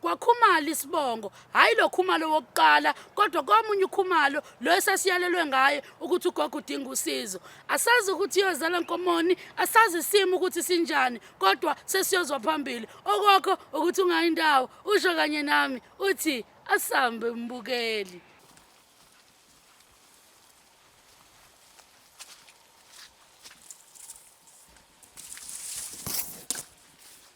kwakhumala isibongo hhayi lo khumalo wokuqala kodwa komunye ukhumalo lo esasiyalelwe ngaye ukuthi ugogo udinga usizo asazi ukuthi iyozala nkomoni asazi isimo ukuthi sinjani kodwa sesiyozwa phambili okokho ukuthi ungayi ndawo usho kanye nami uthi asambe mbukeli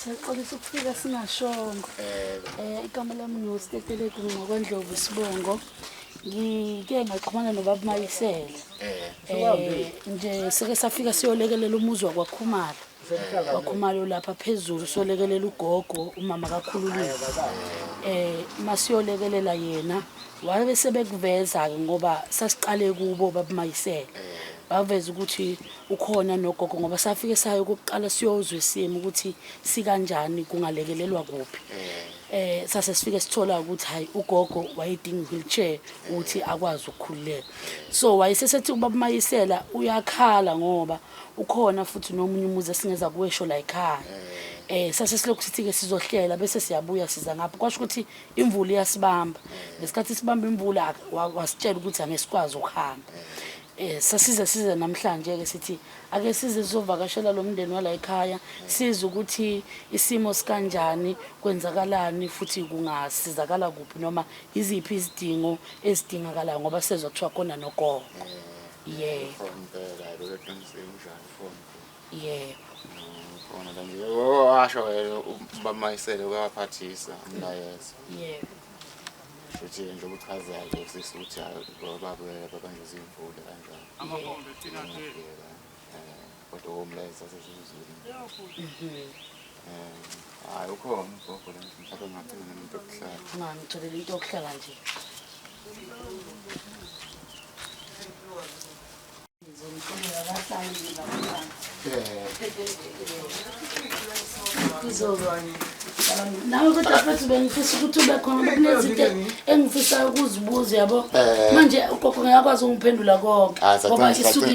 siyaxolisa ukufika singashongo um igama lami nostetelegu ngokwendlovu sibongo ngike ngaxhumana nobaba mayisela um nje seke safika siyolekelela umuzi wakwakhumala wakhumalo lapha phezulu solekelela ugogo umama kakhululile eh masiyolekelela yena wabe sebekuveza ke ngoba sasiqale kubo babumayisele baveza ukuthi ukhona nogogo ngoba safike sayo ukuqala siyozwe simo ukuthi sikanjani kungalekelelwa kuphi eh sase sifike sithola ukuthi hayi ugogo wayedinga wheelchair ukuthi akwazi ukukhululeka so wayesesethi ubabumayisela uyakhala ngoba ukhona futhi nomunye umuzi esingeza kuwesho la ekhaya eh sase silokhu sithi-ke sizohlela bese siyabuya siza ngapho kwasho ukuthi imvula iyasibamba ngesikhathi sibamba imvula wasitshela ukuthi angesikwazi ukuhamba eh sasize size namhlanje ke sithi ake size sizovakashela lo mndeni wala ekhaya size ukuthi isimo sikanjani kwenzakalani futhi kungasizakala kuphi noma iziphi izidingo ezidingakalayo ngoba sezwa kuthiwa khona nogogo yebo from impela hayi bebeqinisile unjani from yebo khona la nje washo yena bamayisele kwabaphathisa umlayezo yebo futhi nje ubuchazayo nje sisi ukuthi hayi babuyela babanjwe zimvula kanjani yebo kodwa womleza sesizulu um hayi ukhona ugogo le nto mhlawumbe ngingacela nento yokuhlala mama ngitholele into yokuhlala nje nawe kodwa futhi bengifisa ukuthi ube khona bekunezinto engifisayo ukuzibuza yabo eh. manje ugogo ngeyakwazi ukungiphendula konke ngoba isuke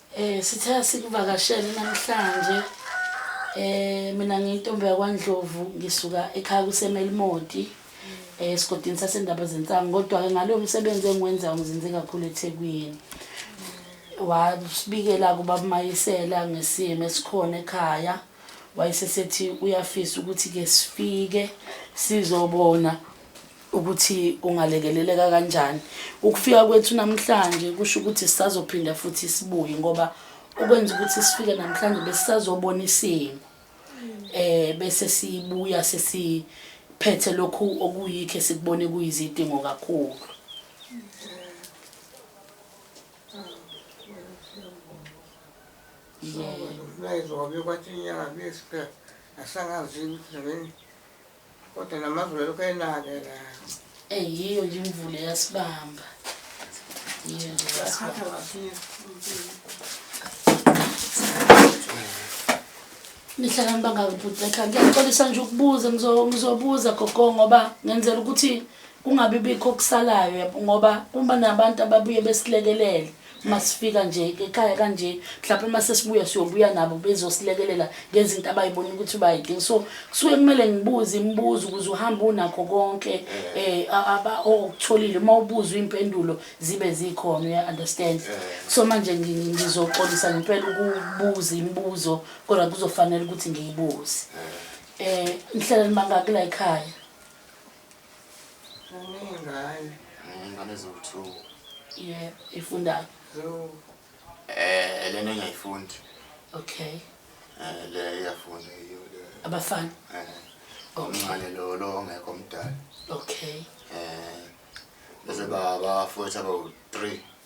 Eh sithe sikuvakashele namhlanje. Eh mina ngiyintombi yakwaNdlovu ngisuka ekhaya kuseMelimoti. Eh sigodini sasendaba zensangu kodwa ke ngalo msebenzi engiwenzayo ngizinze kakhulu eThekwini. Wasibikela kubabumayisela ngesimo esikhona ekhaya. Wayesesethi uyafisa ukuthi ke sifike sizobona ukuthi ungalekeleleka kanjani ukufika kwethu namhlanje kusho ukuthi sisazophinda futhi sibuye ngoba okwenza ukuthi sifike namhlanje besisazobona isimo eh bese sibuya sesiphethe lokhu okuyikho esikubone kuyizidingo kakhulu Yeah. Nayizwa kwabe kwathi inyanga bese asangazi ukuthi Kodwa namazulu lokho enake la. Eh yiyo nje imvula yasibamba. Yiyo nje yasibamba. Nihlala nibangaki bhuti ekhaya? Ngiyaxolisa nje ukubuza ngizobuza gogo ngoba ngenzela ukuthi kungabi bikho okusalayo ngoba kuba nabantu ababuye besilekelele. masifika nje ekhaya kanje mhlawumbe uma sesibuya siyobuya nabo bezosilekelela ngezinto abayibona ukuthi bayidinga so kusuke kumele ngibuze imibuzo ukuze uhambe unakho konke um okutholile uma ubuzwa iy'mpendulo zibe zikhona uya-understand so manje ngizoxolisa ngempela ukubuza imibuzo kodwa kuzofanele ukuthi ngiyibuze um nihlala nimangaki la yikhaya Ngane. Ngane zowu-two. Yeah, ifundayo. Zowu. Eh, lena engayifundi. Okay. Eh, le iyafunda yiyo le. Abafana. Eh. Omncane lo lo ongekho omdala. Okay. Eh. Bese baba futhi abawu-three.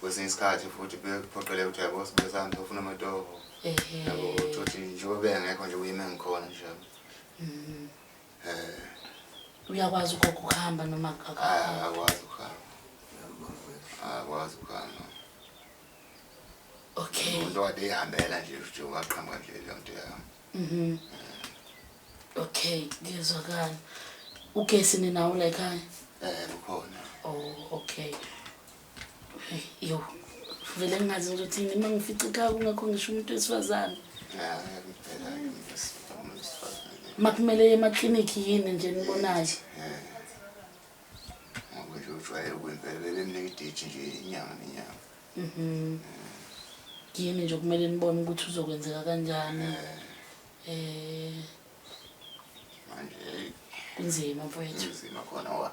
kwesinye isikhathi futhi bekuphoqeleka ukuthi yabo sibesana sofuna amatoho yabo uthi njengoba bengekho nje uyime ngikhona nje mm. eh uyakwazi ugogo ukuhamba noma ah, akwazi ukuhamba akwazi ukuhamba okay umuntu wade ihambela nje futhi waqhamuka nje leyo nto yayo mhm eh. okay ngiyezwakala ugesi ninawo la ekhaya eh ukhona oh okay Yo, vele ngingazi nje ukuthi nima ngifica ikhaya kungekho ngisho umuntu wesifazane. Makumele ye emaklinikhi yini nje nibonayo? Ngoba nje ujwayele ukwempela bebemnika idate nje inyanga nenyanga. Mhm. Yini nje kumele nibone ukuthi uzokwenzeka kanjani. Eh. Manje kunzima mfowethu. Kunzima khona wa.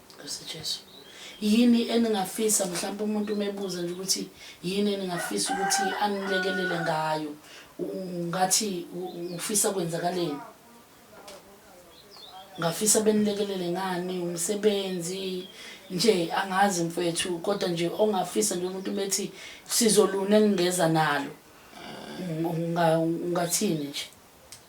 Nkosi Jesu. Yini eningafisa mhlawumbe umuntu umebuza nje ukuthi yini eningafisa ukuthi anilekelele ngayo? Ngathi ufisa kwenzakaleni? Ngafisa benilekelele ngani umsebenzi nje angazi mfethu kodwa nje ongafisa nje umuntu bethi sizolune ngingeza nalo. Ungathini nje?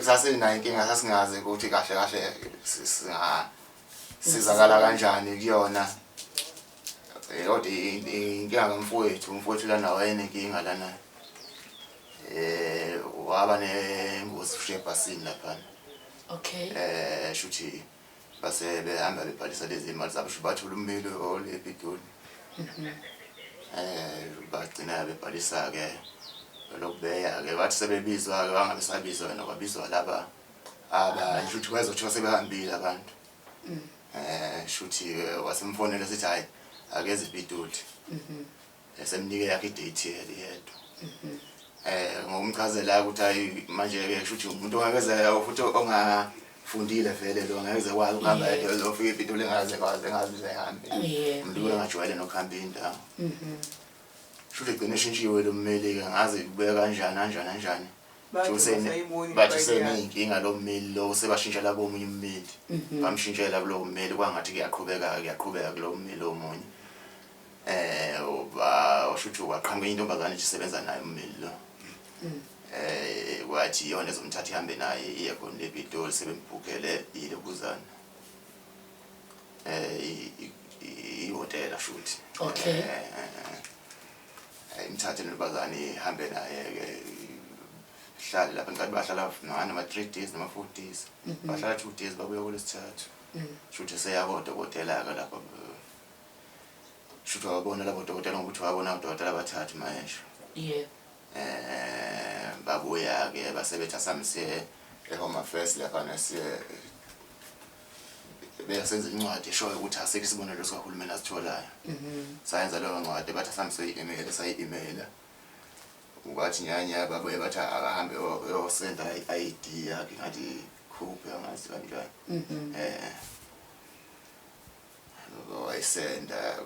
Sasinayinkinga sasingazi ukuthi kahle kahle singasizakala kanjani kuyona. Eh, kodwa inkinga kamfowethu, umfowethu lana wayenenkinga lana. Eh waba nengozi ushiye ebhasini laphana. Okay. Eh shuthi base behamba bebhalisa lezi imali zabo bathola ummeli olepitoli mhm. eh bagcina bebhalisa ke lokubeya ke bathi sebebizwa ke bangabe sabizwa wena kwabizwa laba aba shuthi kwayizothiwa sebehambile abantu mm. eh shuthi wasemfonela sithi hayi akeze ipitoli mhm. esemnike yakhe idate yedwa mhm. eh ngokumchazela ukuthi ayi manje ke shuthi umuntu ongakeze futhi ongafundile vele lo ngeke kwazi ukuhamba yedwa lo fike into lengaze kwazi engazi usehambe umuntu ongajwayele nokuhamba indawo mhm. shuthi gcine shintshiwe lo mmeli ke ngazi kubeka kanjani kanjani kanjani bathi useneyinkinga lo mmeli lo sebashintshela komunye ummeli mhm. bamshintshela kulowo mmeli kwangathi kuyaqhubeka kuyaqhubeka kulowo mmeli omunye Eh uba ushuthi waqhamuka intombazane isebenza naye ummeli lo. Mm. Eh wathi yona ezomthatha ihambe naye iye khona le Pitoli sebembhukele ile kuzana. Eh ihotela shuthi. Okay. Eh, eh, eh. Imthathe intombazane ihambe naye ke hlale lapha ngicela bahlala nani ama 3 days nama 4 days. Mm-hmm. Bahlala 2 days babuya kulesithathu. Mm. Shuthi seyakodwa kodela ke lapha Shuthi wabona labo dokotela ngokuthi wabona udokotela abathathu mayesho. Yebo. Eh babuya ke basebetha samse ehome affairs lapha nesiye beyasenza incwadi eshoyo ukuthi asikho isibonelo sikahulumeni asitholayo mhm. sayenza leyo ncwadi bathi asamse i-email sayi-emaila wathi nyanya babuye bathi akahambe yosenda i-id yakhe ngathi khuphe angazi kanjani mhm. um wayisenda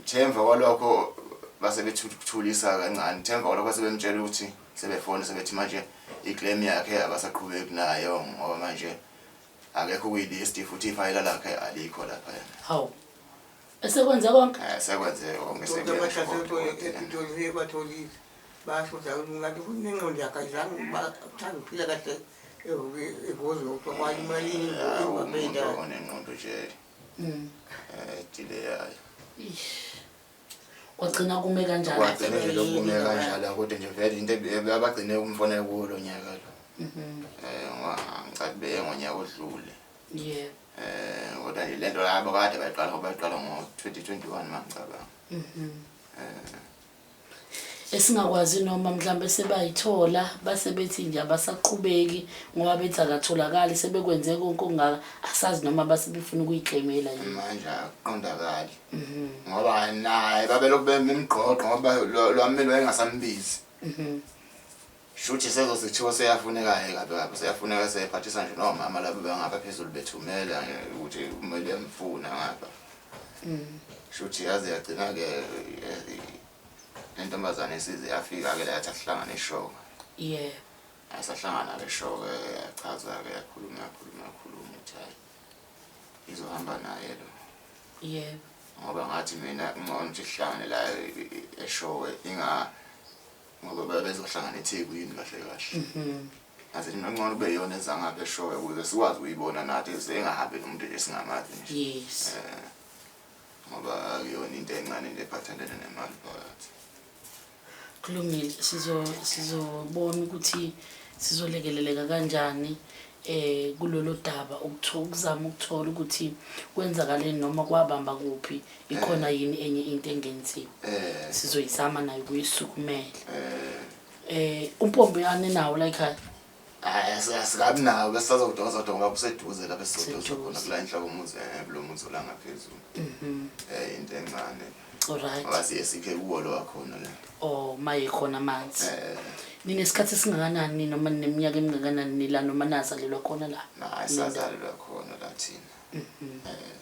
themva kwalokho base bethuthulisa kancane themva kwalokho base bemtshela ukuthi sebefona sebethi manje iclaim yakhe abasaqhubeki nayo ngoba manje akekho kuyilist futhi ifayela lakhe alikho lapha yena hawu esekwenze konke eh sekwenze konke sekwenze basho ukuthi umuntu akayizange bathanda ukuphila kahle onenqondojele mm. eh, ejile yayo kwagcina kume kanjanikwagcina nje lokume kanjalo akude nje vele into abagcine kumfonela kuwo lo nyaka lo um mhm. eh, ngicati beye ngonyaka odlule ye um kodwa nje le nto labo kade bayiqala ngoba bayiqala ngo-twenty twenty one mangicabanga mhm. um esingakwazi noma mhlawumbe sebayithola base bethi nje abasaqhubeki ngoba bethi akatholakali sebekwenze konke okungaka asazi noma base befuna ukuyiclaimela yini manje akuqondakali mhm. ngoba naye babelokhu bemgqogqo ngoba lwamelo engasambizi mhm. Shuthi sezosithiwa seyafuneka ke kabi kabi seyafuneka seyephathisa nje nomama labo bangapha phezulu bethumela eh, ukuthi kumele bemfuna ngapha. Mm. Shuthi yaze yagcina ke eh, lentombazane isize yafika ke la yathi asihlangane eshoka. Yeah. Asahlangana ke shoka yachaza ke yakhuluma yakhuluma yakhuluma ukuthi hayi izohamba naye lo. Yebo. Ngoba ngathi mina ngcono ukuthi sihlangane la eh, eshowe inga ngoba babezohlangana ethekwini kahle kahle mhm. aze ningangcono kube yona ezangapha eshoyo ukuze sikwazi ukuyibona nathi ezengahambi nomuntu nje singamazi nje yes eh, ngoba kuyona into encane nje ephathelene nemali phakathi kulungile sizo sizobona ukuthi sizolekeleleka kanjani eh kulolu daba ukuthola ukuzama ukuthola ukuthi kwenzakaleni noma kwabamba kuphi ikhona eh. yini enye into engenziwa eh. sizoyizama nayo kuyisukumela eh umpombe yane nawo la ekhaya hayi asikabi nawo bese sazodoza donga kuseduze la bese sizodoza khona kula inhloko umuzi eh kulo muzi la ngaphezulu mhm eh into encane alright wazi esiphe kuwo lo wakhona la oh maye khona amanzi eh nine isikhathi singakanani noma neminyaka emingakanani nila noma nazalelwa khona la hayi sazalelwa khona la thina mhm eh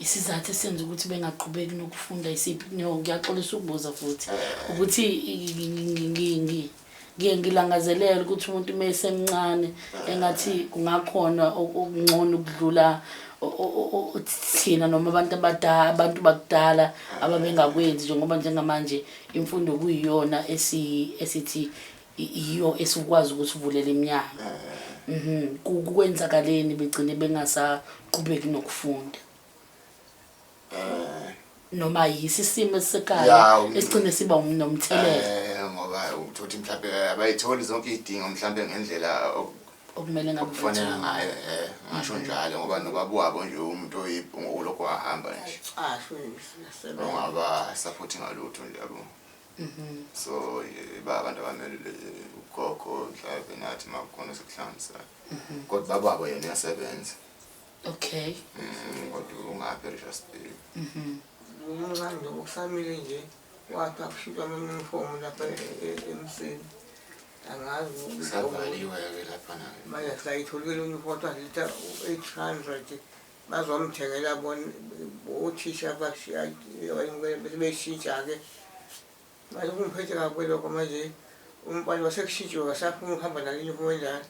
isizathu esenza ukuthi bengaqhubeki nokufunda isiphi no ngiyaxolisa ukubuza futhi ukuthi ngiye ngilangazelela ukuthi umuntu uma esemncane engathi kungakhona okungcono ukudlula thina noma abantu abadala abantu bakudala ababengakwenzi njengoba njengamanje imfundo kuyiyona esithi yiyo esikwazi ukuthi uvulele iminyango eh. mhm. kwenzakaleni begcine bengasaqhubeki nokufunda eh. noma yisi isimo esisekhaya esigcine siba nomthelela eh, ngoba uthothi mhlawumbe abayitholi zonke izidingo mhlawumbe ngendlela okumele ngabe kufanele ngayo eh ngasho mhm. njalo ngoba nobaba wabo nje umuntu oyibhungu lokho ahamba nje ah, ungaba support ngalutho nje yabo Mhm. so eh, ba abantu abamelele eh, ugogo mhlawumbe nathi uma kukhona sekuhlanganisayo Mhm. kodwa bababo yena uyasebenza Okay. Mm, kodwa ungaphi erisas bay Mhm. umncane nje okusamile nje wathi akushintshwa amanyunifomu lapha e- e- emsini angazi ukuthi kusavaliwe-ke lapha nayo manje sikayitholile unifomu athiwa zitha u-eight hundred Bazomthengela bona othisha abashiya beshintsha-ke manje kungiphethe kabi lokho manje umbani wasekushintshiwe wasafuna ukuhamba naliyunifomu enjalo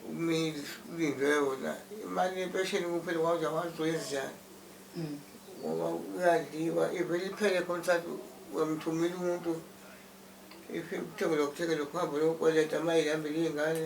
umilindwe wona imali yempesheni kuphela kwakuze wazoyenzani ngoba kuyadliwa ivele iphele khona sathi uyamthumela umuntu kuthengelwa kuthengele kuhambe lokweleta uma ihambele iy'ngane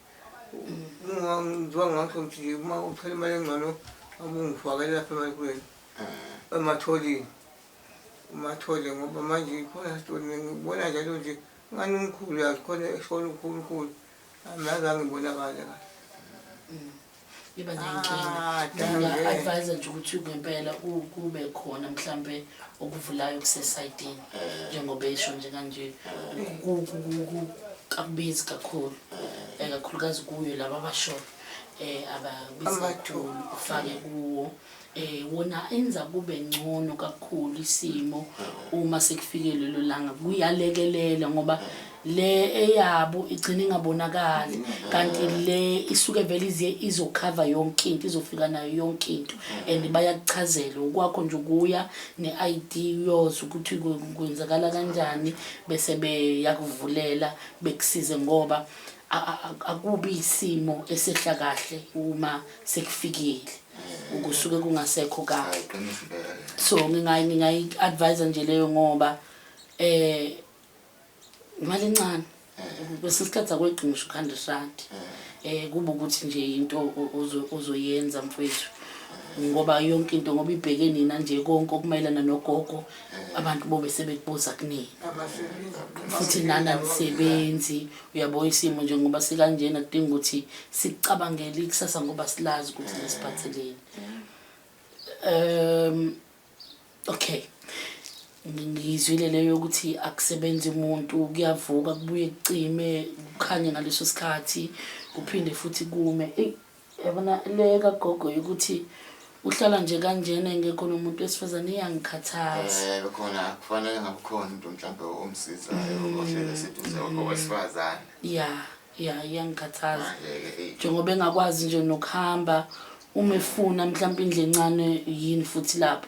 ngiziwa ngakho ngithi uma uthole imali engcono abungifakele lapha emalukweni eh. ematholini umathole ngoba manje khona sitoni ngibona njalo nje ngani umkhulu yazi khona esona ukhulukhulu angazange ibonakale kahle iba nenkinga nginga-advise nje ukuthi ngempela kube khona mhlampe okuvulayo kusesayitini njengoba esho nje kanje kakubizi kakhulu um kakhulukazi kuyo laba abashona um ababizi kakhulu ufake kuwo eh wona enza kube ngcono kakhulu isimo uma sekufike lelo langa kuyalekelela ngoba le eyabo igcina ingabonakali kanti le isuke vele ize izokhava yonke into izofika nayo yonke into and bayakuchazela ukwakho nje ukuya ne-id yoza ukuthi kwenzakala kanjani bese beyakuvulela bekusize ngoba akubi isimo esehla kahle uma sekufikile kusuke kungasekho kahle so ngingayi-advise nje leyo ngoba um imali encane kwesinye isikhathi akwedinga usho u-hundred rand um kuba ukuthi nje yinto ozoyenza mfwethu ngoba yonke into ngoba ibheke nina nje konke okumayelana nogogo abantu bobe sebekubuza kunina futhi nani anisebenzi Uyabo isimo nje ngoba sikanjena kudinga ukuthi sicabangele ikusasa ngoba silazi ukuthi lesiphatheleni. Um okay. Ngizwile leyo ukuthi akusebenzi umuntu kuyavuka kubuye kucime kukhanye ngaleso sikhathi kuphinde futhi kume. Yabona le kagogo yokuthi uhlala nje kanjena engekho nomuntu wesifazane iyangikhathaza Eh khona kufanele ngabukhona umuntu mhlawumbe omsizayo Mm. ohlele seduze owesifazane. ya ya iyangikhathaza Manje-ke eyi. njengoba engakwazi nje nokuhamba uma efuna mhlawumbe indlu encane yini futhi lapho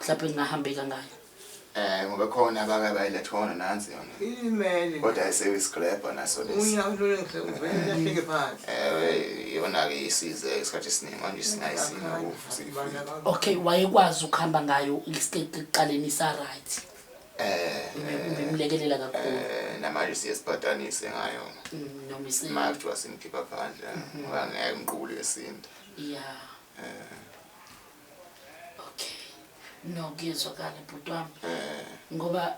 mhlawumbe ngingahambe kangaka Eh ngoba khona abaka bayilethe khona nansi yona. Imeli. Kodwa ayisewe isigrabha naso lesi. Unya ulule ngisho uvele lahleke phansi. Eh yona ke isize isikhathi esiningi manje singayisina ukufuthi. Okay wayekwazi ukuhamba ngayo isikhathi kuqaleni sa right. Eh ngimlekelela kakhulu. Eh namanje siyesibhadanise ngayo. Mm, noma isinto. Manje kuthiwa simkhipha phandle ngoba mm-hmm. ngeke ngiqule esinto. Yeah. Eh Okay. No kuyezwakala bhuti wami. Eh. Ngoba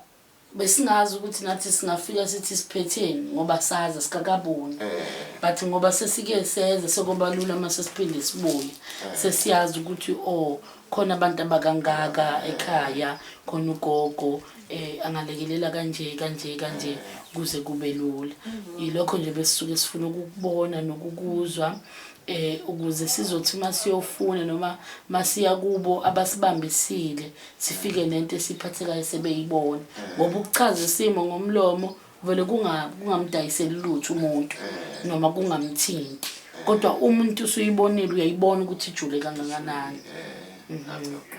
besingazi ukuthi nathi singafika sithi siphetheni ngoba saza sikakaboni eh. but ngoba sesike seze sokuba lula uma sesiphinde sibuye eh. sesiyazi ukuthi o oh, khona abantu abakangaka eh. ekhaya khona ugogo eh angalekelela kanje kanje kanje kuze kube lula mm-hmm. ilokho nje besisuke sifuna ukubona nokukuzwa eh ukuze sizothi masiyofuna noma masiya kubo abasibambisile sifike nento esiphathekayo sebeyibona ngoba ukuchaza isimo ngomlomo vele kunga kungamdayiseli lutho umuntu noma kungamthinti kodwa umuntu usuyibonile uyayibona ukuthi ijule kangakanani eh, mhm.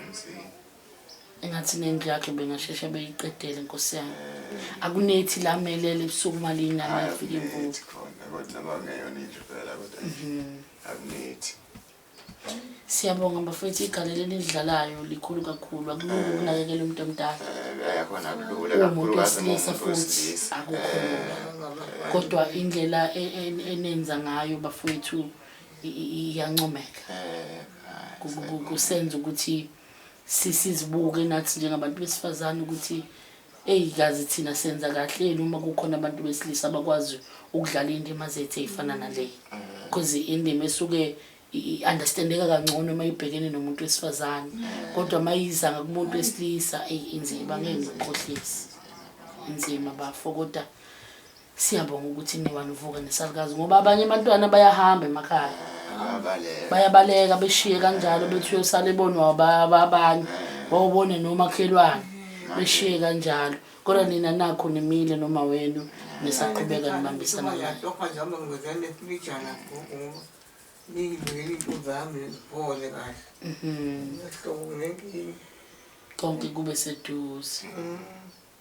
engathi nendlu yakhe bengasheshe beyiqedele nkosi yami akunethi la melele ebusuku uma liyingane yafika imvula khona kodwa noma ngeyona indlu phela kodwa mhm. akunethi siyabonga bafethu igalelo elidlalayo likhulu kakhulu akulula eh. ukunakekela umuntu omdala yakhona eh, kulula kakhulu kasemusa futhi akukho eh. kodwa indlela e, e, enenza ngayo bafethu iyancomeka kusenza ukuthi sizibuke nathi njengabantu besifazane ukuthi eyi kazi thina senza kahle yini uma kukhona abantu besilisa abakwazi ukudlala iy'ndima zethu ey'fana naleyi because mm. indima esuke i-understandeka kangcono uma ibhekene nomuntu wesifazane mm. kodwa uma yiza ngakumuntu wesilisa eyi inzima ngeke ngikukhohlisi inzima bafo kodwa Siyabonga ukuthi niwa nivuka nesalukazi ngoba abanye abantwana bayahamba emakhaya. Abaleka. Bayabaleka beshiye kanjalo bethi uyosala ebonwa aba- abanye wawubone nomakhelwane beshiye kanjalo. Kodwa nina nakho nimile noma wenu nisaqhubeka nibambisana naye. Yatoka njalo ngizane sibijana gogo ngoba ningibekele into zami ziphole kahle. Mhm. Ngiyahlobo ngenkinga. Konke kube seduze. Mm.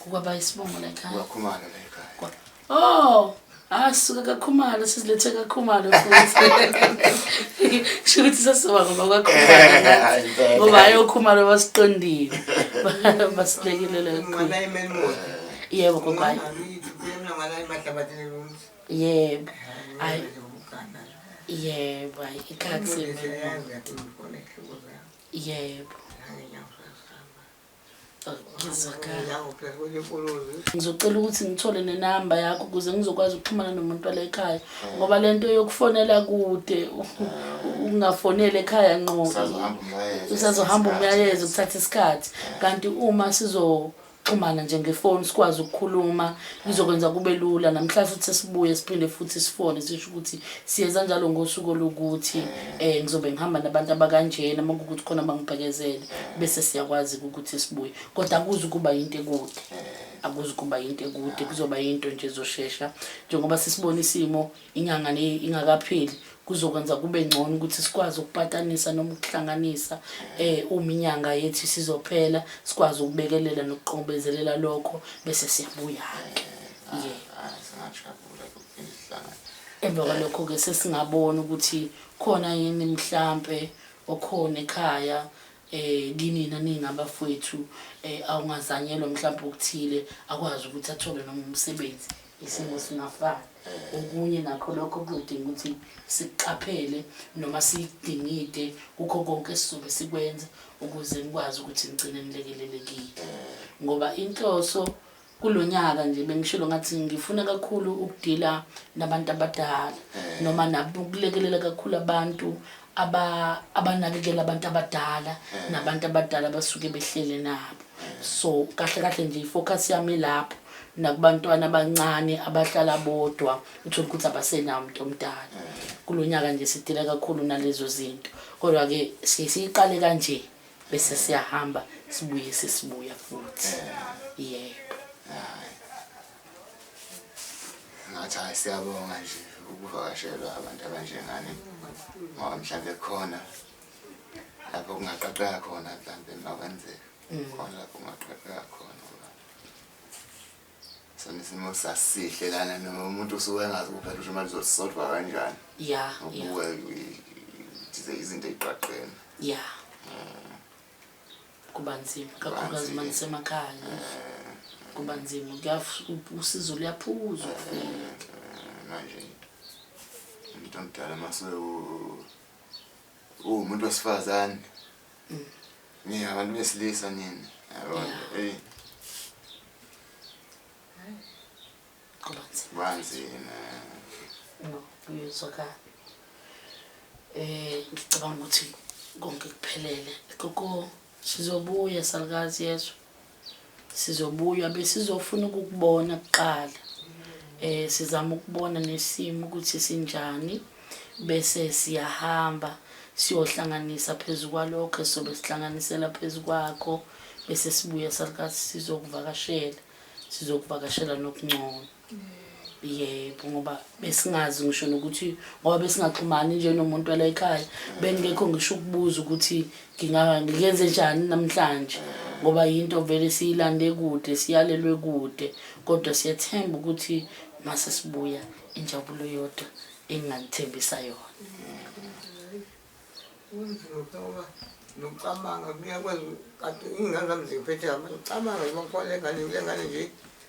Kukwaba isibongo la ekhaya. Uyakhumala la ekhaya. Oh, asuka ah, kakhumalo sizilethe kakhumalo futhi. Kusho ukuthi sasiba ngoba kwakhumalo. Eh, ngoba ayokhumalo basiqondile. Basilekelele kakhulu. Yebo kokwayo. Yebo. Ay. Yebo, ay ikhathi. Yebo. ngizocela ukuthi ngithole nenamba yakho ukuze ngizokwazi ukuxhumana nomuntu wala ekhaya ngoba le nto yokufonela kude ukungafoneli ekhaya nqo usazohamba umyalezo kuthatha isikhathi kanti uma sizo xhumana nje ngefoni sikwazi ukukhuluma ngizokwenza kube lula namhlanje futhi sesibuye siphinde futhi sifone sisho ukuthi siyenza njalo ngosuku olukuthi um eh, ngizobe ngihamba nabantu abakanjena uma kukuthi khona bangibhekezele bese siyakwazi ukuthi sibuye kodwa akuzi ukuba yinto ekude akuzi ukuba yinto ekude kuzoba yinto nje ezoshesha njengoba sisibona isimo inyanga le ingakapheli kuzokwenza kube ngcono ukuthi sikwazi ukupatanisa noma ukuhlanganisa eh uma inyanga yethu sizophela sikwazi ukubekelela nokuqombezelela lokho bese siyabuya ke yeah ah, ah, emva kwalokho-ke sesingabona ukuthi khona yini mhlampe okhona ekhaya eh kinina ningabafowethu um eh, awungazanyelwa mhlawumbe okuthile akwazi ukuthi athole noma umsebenzi isimo singafani okunye nakho lokho kuzodinga ukuthi siqaphele noma sidingide kukho konke esizobe sikwenza ukuze nikwazi ukuthi nigcine nilekelelekile ngoba inhloso kulo nyaka nje bengishilo ngathi ngifuna kakhulu ukudila nabantu abadala eh. noma nakulekelela kakhulu abantu aba abanakekela abantu abadala eh. nabantu abadala basuke behlele nabo eh. so kahle kahle nje ifocus yami lapho nakubantwana abancane abahlala bodwa uthole ukuthi abasenawo umuntu omdala kulonyaka nje sidila kakhulu nalezo zinto kodwa ke siyiqale kanje bese siyahamba sibuye sesibuya futhi yebo ngathi hayi siyabonga nje ukuvakashelwa abantu abanjengani ngoba mhlawumbe khona lapho kungaqaqeka khona mhlawumbe makwenzeka mm. khona lapho kungaqaqeka khona Sona isimo sasihle lana noma umuntu usuke engazi kuphela ukuthi imali zosodwa kanjani. Yeah. Ubuke izinto izinto eziqaqeni. Yeah. Mm. Kuba nzima kakhulukazi uma nisemakhaya. Eh. Kuba nzima usizo luyaphuza eh, ukufika. Eh, manje umuntu omdala mase uwumuntu wesifazane mina abantu besilisa nini yabona eyi kubanzima uyezwakala um ngicabanga ukuthi konke kuphelele koko sizobuya salukazi yezwa sizobuya besizofuna ukukubona kuqala eh sizama ukubona nesimo ukuthi sinjani bese siyahamba siyohlanganisa phezulu kwalokho sobe sihlanganisela phezulu kwakho bese sibuya salikazi sizokuvakashela sizokuvakashela nokungcono yebo ngoba besingazi ngisho nokuthi ngoba besingaxhumani nje nomuntu wala ekhaya bengekho ngisho ukubuza ukuthi ngiyenze njani namhlanje ngoba yinto vele siyilande kude siyalelwe kude kodwa siyathemba ukuthi mase sibuya injabulo yodwa enginganithembisa yona nokucabanga kuyakwenza kade ingane zami ziphethe abantu cabanga noma kukhona engane kule ngane nje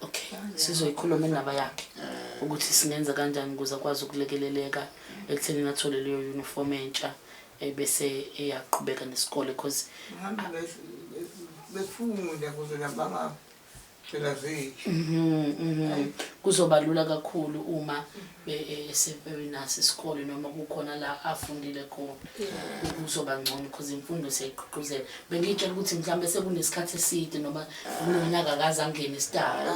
okay sizoyikhuluma indaba yakhe eh. ukuthi singenza kanjani ukuze akwazi ukulekeleleka ekutheni athole leyo uniform entsha ebese eyaqhubeka nesikole because befunda kuze nabanga phela zethu mhm, mhm. kuzoba lula kakhulu uma esempewini naso isikole noma kukhona la afundile khona kuzoba ngcono because imfundo siyayigqugquzela bengiyitshela ukuthi mhlawumbe sekunesikhathi eside noma kunonyaka akaze angene isidala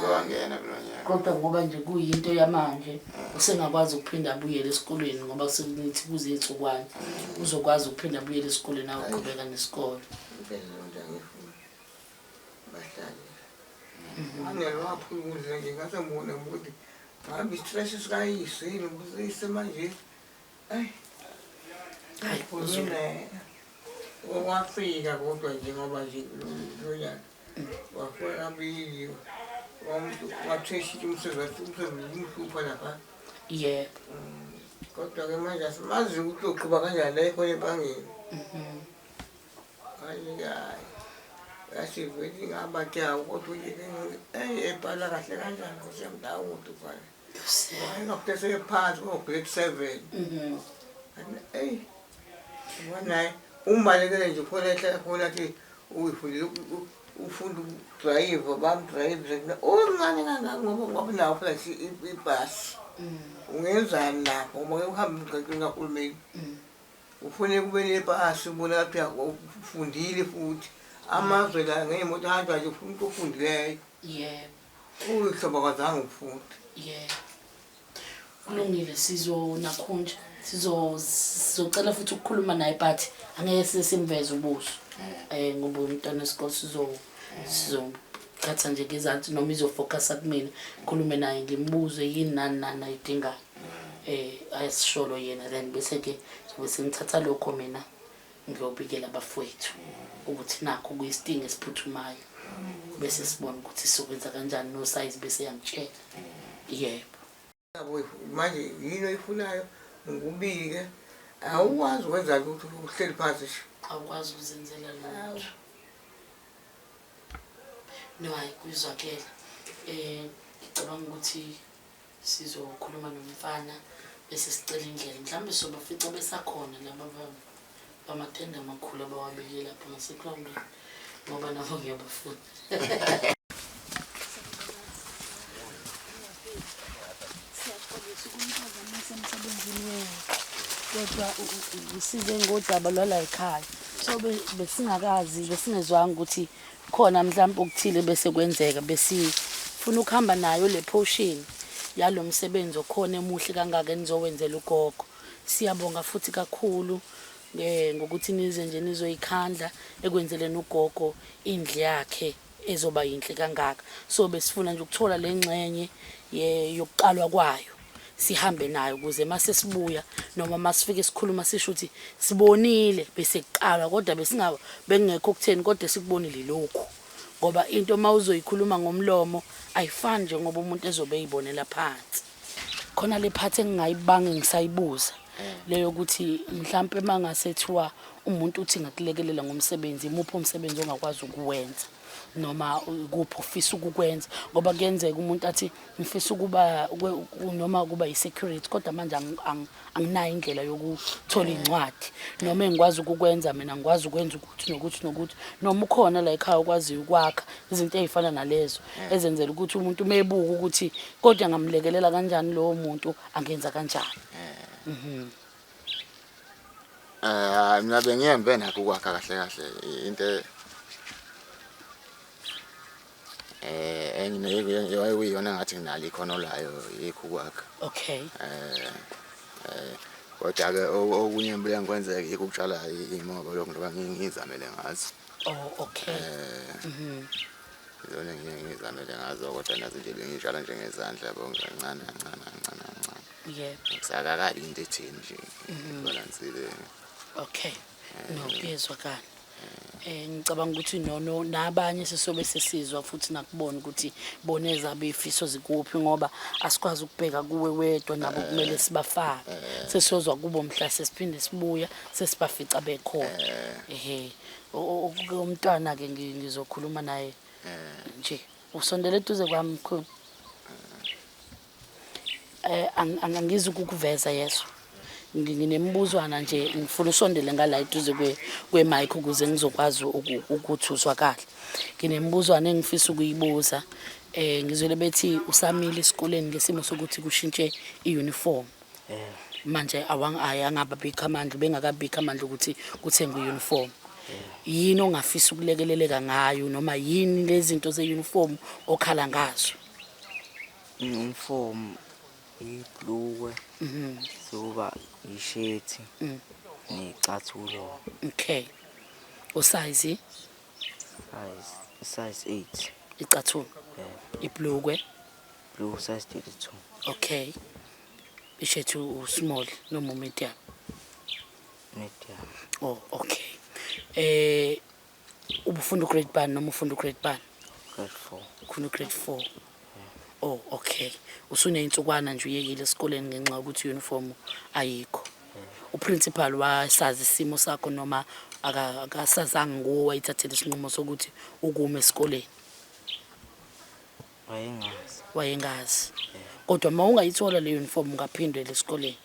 kodwa ngoba nje kuyinto yamanje usengakwazi ukuphinda abuyele esikolweni ngoba sekunethi kuze iy'nsukwane uzokwazi ukuphinda abuyele esikoleni ayoqhubeka nesikole bahlale angeke waphula ukudla nje ngase ngibone ukuthi ngabe i-stress sikayise yini ukuthi ise manje ayi hayi uzule wafika kodwa nje ngoba nje lonyaka wafona abili wamuntu wathweshisa umsebenzi wathi umsebenzi umhlupha lapha yebo mm, kodwa-ke manje asimazi ukuthi uqhuba kanjani la ekhona ebangeni mhm. umbalekele nje khona ehlala khona athi uyifundile ufunda ukudrayiva bamdrayive omncane kangaka ngoba ngoba nawo phela ibhasi ungenzani lapho ngoba uhamba emgaqweni kahulumeni Kufuneka ube nepasi ubona lapho uya khona ukuthi ufundile futhi. Amazwe la ngey'moto ahanjwa nje ufuna umuntu ofundileyo. Yebo. Uyihlobo kwazange ukufunda. Yebo. Kulungile sizonakhunja. Sizo sizocela futhi ukukhuluma naye but angeke size simveze ubuso. Eh ngoba umntwana wesikole sizo sizothatha nje ngezansi noma izofocasa kumina ngikhulume naye ngimbuze yini nani nani ayidingayo eh ayisisholo yena then bese ke sobe sengithatha lokho mina ngiyobikela abafowethu ukuthi nakho kuyisidingo esiphuthumayo bese sibona ukuthi sokwenza kanjani no size bese yangitshela yebo manje yini oyifunayo ngikubike awukwazi ukwenza lutho uhleli phansi nje awukwazi ukuzenzela lutho no hayi kuyizwakela um ngicabanga ukuthi sizokhuluma nomfana bese sicela indlela mhlawumbe sobafica besakhona laba baba amatende amakhulu abawabeke lapho ngasegroundini ngoba nabo ngiyabafuna kodwa usize ngodaba lwala ekhaya so besingakazi besingezwanga ukuthi khona mhlawumbe okuthile bese kwenzeka besifuna ukuhamba nayo le potion yalo msebenzi okhona emuhle kangaka enizowenzela ugogo Siyabonga futhi kakhulu eh, ngokuthi nize nje nizoyikhandla ekwenzeleni ugogo indlu yakhe ezoba yinhle kangaka so besifuna nje ukuthola le ngxenye yokuqalwa kwayo sihambe nayo ukuze uma sesibuya noma uma sifike sikhuluma sisho ukuthi sibonile bese kuqalwa kodwa besingaba bekungekho okutheni kodwa sikubonile lokhu ngoba into uma uzoyikhuluma ngomlomo ayifani njengoba umuntu ezobe eyibonela phansi khona le part engingayibange ngisayibuza leyo ukuthi mhlampe mangasethiwa umuntu uthi ngakulekelela ngomsebenzi imuphi umsebenzi ongakwazi ukuwenza noma kuphi ufisa ukukwenza ngoba kuyenzeka umuntu athi ngifisa ukuba noma ukuba yi-security kodwa manje anginayo indlela yokuthola iy'ncwadi noma engikwazi ukukwenza mina ngikwazi ukwenza ukuthi nokuthi nokuthi noma ukhona la ekhaya okwaziyo ukwakha izinto ey'fana nalezo ezenzela ukuthi umuntu uma ebuka ukuthi kodwa ngamlekelela kanjani lowo muntu angenza kanjani mhm. Eh mina bengiyembe nakho ukwakha kahle kahle into eh engiyona ngathi nginalo ikhono layo yikho ukwakha okay eh eh kodwa ke okunye mbuya ngikwenzeka yikho ukutshala imoba lokho ngoba ngizamele ngazo oh okay eh mhm izona ngiye ngizamele ngazo kodwa nazo nje bengitshala nje ngezandla yabo ngincane kancane kancane kancane yebo ngisakakali into ethini nje mhm. ibalansile okay No, kuyezwakala. Eh ngicabanga ukuthi no no nabanye sisobe sesizwa futhi nakubona ukuthi bona ezabe ifiso zikuphi ngoba asikwazi ukubheka kuwe wedwa nabo kumele sibafake. Sesizwa kubo mhla sesiphinde sibuya sesibafica bekhona. Ehhe. O- o- o- Umntwana ke ngi- ngizokhuluma naye nje. Usondele eduze kwami mkhulu. Eh, ang- ang- angizi ukukuveza yeso Ngi- nginemibuzwana nje ngifuna usondele ngala eduze kwe- kwemike ukuze ngizokwazi uku- ukuthi uzwa kahle nginemibuzwana engifisa ukuyibuza um ngizwele bethi usamile esikoleni ngesimo sokuthi kushintshe i-uniform manje awang- ayi angababikho amandla ubengakabikho amandla ukuthi kuthengwe i-uniform yini ongafisa ukulekeleleka ngayo noma yini lezinto ze-uniform okhala ngazo Umfomu iblukwe mhm. soba ishethi mm. necathulo. Okay. Usize? Size size 8. Icathulo. Yeah. Iblukwe. Blue size 32. Okay. Ishethi usmall noma medium. Medium. Oh, okay. Eh ubufunda ugrade bani noma ufunda ugrade bani grade 4 ufunda ugrade 4 oh okay usuneyinsukwana nje uyekile esikoleni ngenxa yokuthi uniform ayikho uprincipal wasazi isimo sakho noma akasazange nguwe wayithathela isinqumo sokuthi ukume esikoleni wayengazi wayengazi kodwa uma ungayithola le uniform ungaphindela esikoleni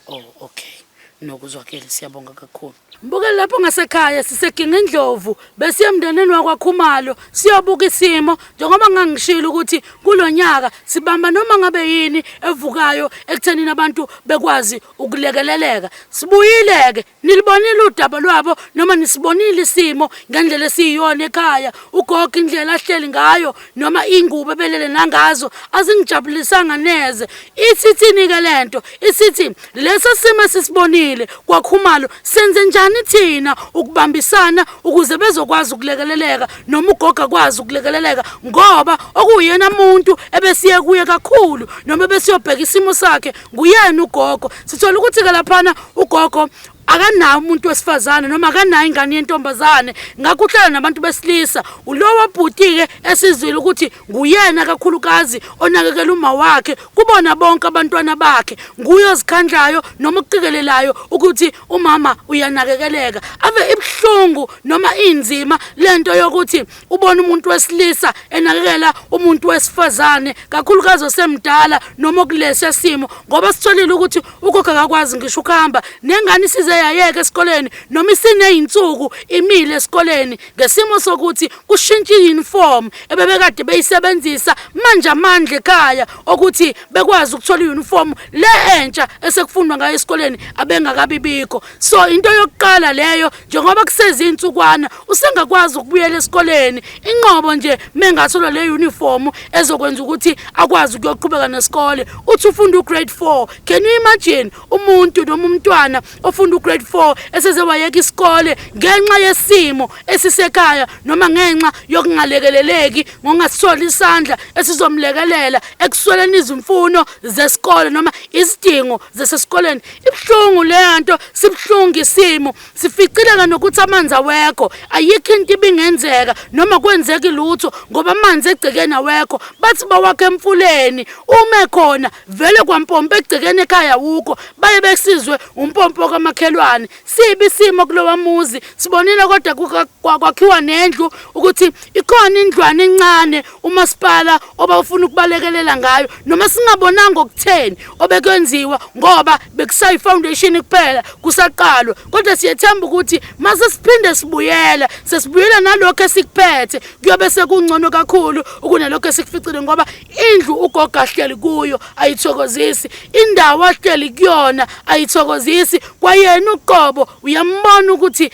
oh okay nokuzwakele siyabonga kakhulu mbuke lapho ngasekhaya siseginga indlovu besiye emndenini wakwakhumalo siyobuka isimo njengoba ngangishilo ukuthi kulonyaka sibamba noma ngabe yini evukayo ekuthenini abantu bekwazi ukulekeleleka sibuyileke Nilibonile udaba lwabo noma nisibonile isimo ngendlela esiyiyona ekhaya ugogo indlela ahleli ngayo noma ingubo ebelele nangazo azingijabulisanga neze ithithini ke lento isithi lesi simo sisibonile kwakhumalo senze njani thina ukubambisana ukuze bezokwazi ukulekeleleka noma ugogo akwazi ukulekeleleka ngoba okuyena muntu ebesiye kuye kakhulu noma besiyobheka isimo sakhe nguyena ugogo sithola ukuthi-ke laphana ugogo akanawo umuntu wesifazane noma akanayo ingane yentombazane ngakho uhlala nabantu besilisa ulowo bhuti-ke esizwile ukuthi nguyena kakhulukazi onakekela uma wakhe kubona bonke abantwana bakhe nguye ozikhandlayo noma ukuqikelelayo ukuthi umama uyanakekeleka ave ibuhlungu noma inzima le nto yokuthi ubona umuntu wesilisa enakekela umuntu wesifazane kakhulukazi osemdala noma okulesi simo ngoba sitholile ukuthi ukhokha kakwazi ngisho ukuhamba nengane isize yayeke esikoleni noma isineyinsuku imile esikoleni ngesimo sokuthi kushintshe uniform ebebekade beyisebenzisa manje amandla ekhaya okuthi bekwazi ukuthola uniform le entsha esekufundwa ngayo esikoleni abengakabibikho so into yokuqala leyo njengoba kusezintsukwana usengakwazi ukubuyela esikoleni inqobo nje mengathola le uniform ezokwenza ukuthi akwazi ukuyoqhubeka nesikole uthi ufunda ugrade 4 can you imagine umuntu noma umntwana ofunda ugrade 4 eseze wayeka isikole ngenxa yesimo esisekhaya noma ngenxa yokungalekeleleki ngokungasisoli isandla esizomlekelela ekusweleni izimfuno zesikole noma izidingo zasesikoleni ibuhlungu le nto sibuhlungu isimo Sificileka nokuthi amanzi awekho, ayikho into ibingenzeka noma kwenzeki lutho ngoba amanzi egcekeni awekho. Bathi bawakha emfuleni, uma ekhona vele kwampompa egcekeni ekhaya wukho. Baye besizwe umpompo kamakhelwane. Sibi isimo kulowa muzi, sibonile kodwa kwakhiwa nendlu ukuthi ikhona indlwana encane umasipala obawufuna ukubalekelela ngayo noma singabonanga okutheni obekwenziwa ngoba bekusayi foundation kuphela kusaqalwa kodwa siyethemba ukuthi mase siphinde sibuyela sesibuyela nalokho esikuphethe kuyobe sekungcono kakhulu kunalokho esikuficile ngoba indlu ugogo ahleli kuyo ayithokozisi indawo ahleli kuyona ayithokozisi kwayena uqobo uyambona ukuthi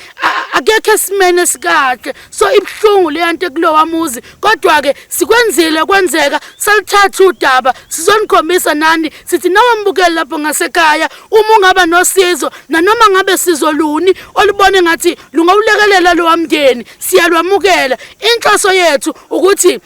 akekho esimene sikahle so ibuhlungu leyanto ekulowa muzi kodwa ke sikwenzile kwenzeka salithatha udaba sizonikhombisa nani sithi nawe mbukeli lapho ngasekhaya uma ungaba nosizo nanoma ngabe sizo luni olubone ngathi lungawulekelela lowa mndeni siyalwamukela inhloso yethu ukuthi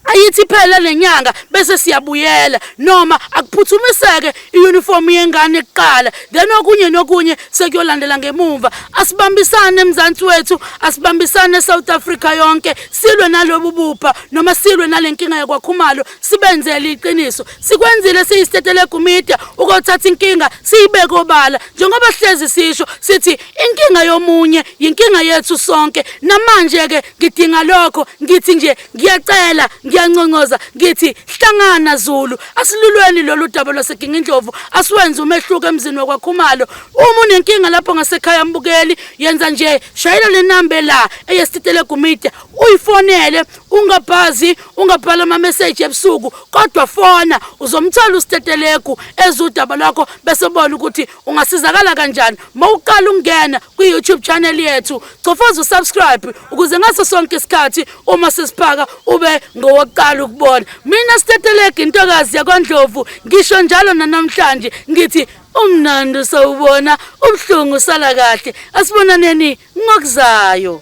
ayithi iphele lenyanga bese siyabuyela noma akuphuthumiseke iuniform yengane kuqala then okunye nokunye sekuyolandela ngemumva asibambisane emzansi wethu asibambisane eSouth Africa yonke silwe nalobu bupha noma silwe nalenkinga yakwakhumalo sibenzele iqiniso sikwenzile siyistetele gumedia ukothatha inkinga siyibeke obala njengoba sihlezi sisho sithi inkinga yomunye yinkinga yethu sonke namanje ke ngidinga lokho ngithi nje ngiyacela ngiyanconcoza ngithi hlangana Zulu asilulweni lolu daba lwaseGingindlovu asiwenze umehluko emzini wakwaKhumalo uma unenkinga lapho ngasekhaya mbukeli yenza nje shayela le number la eyesititele gumide uyifonele ungabhazi ungabhala ama message ebusuku kodwa fona uzomthola usitetelegu ezudaba lwakho bese ubona ukuthi ungasizakala kanjani mawuqala ungena kwi-youtube channel yethu cofoza usubscribe ukuze ngaso sonke isikhathi uma sesiphaka ube ngowokuqala ukubona mina stetelege intokazi yakwandlovu ngisho njalo nanamhlanje ngithi umnandi usawubona ubuhlungu usala kahle asibonaneni ngokuzayo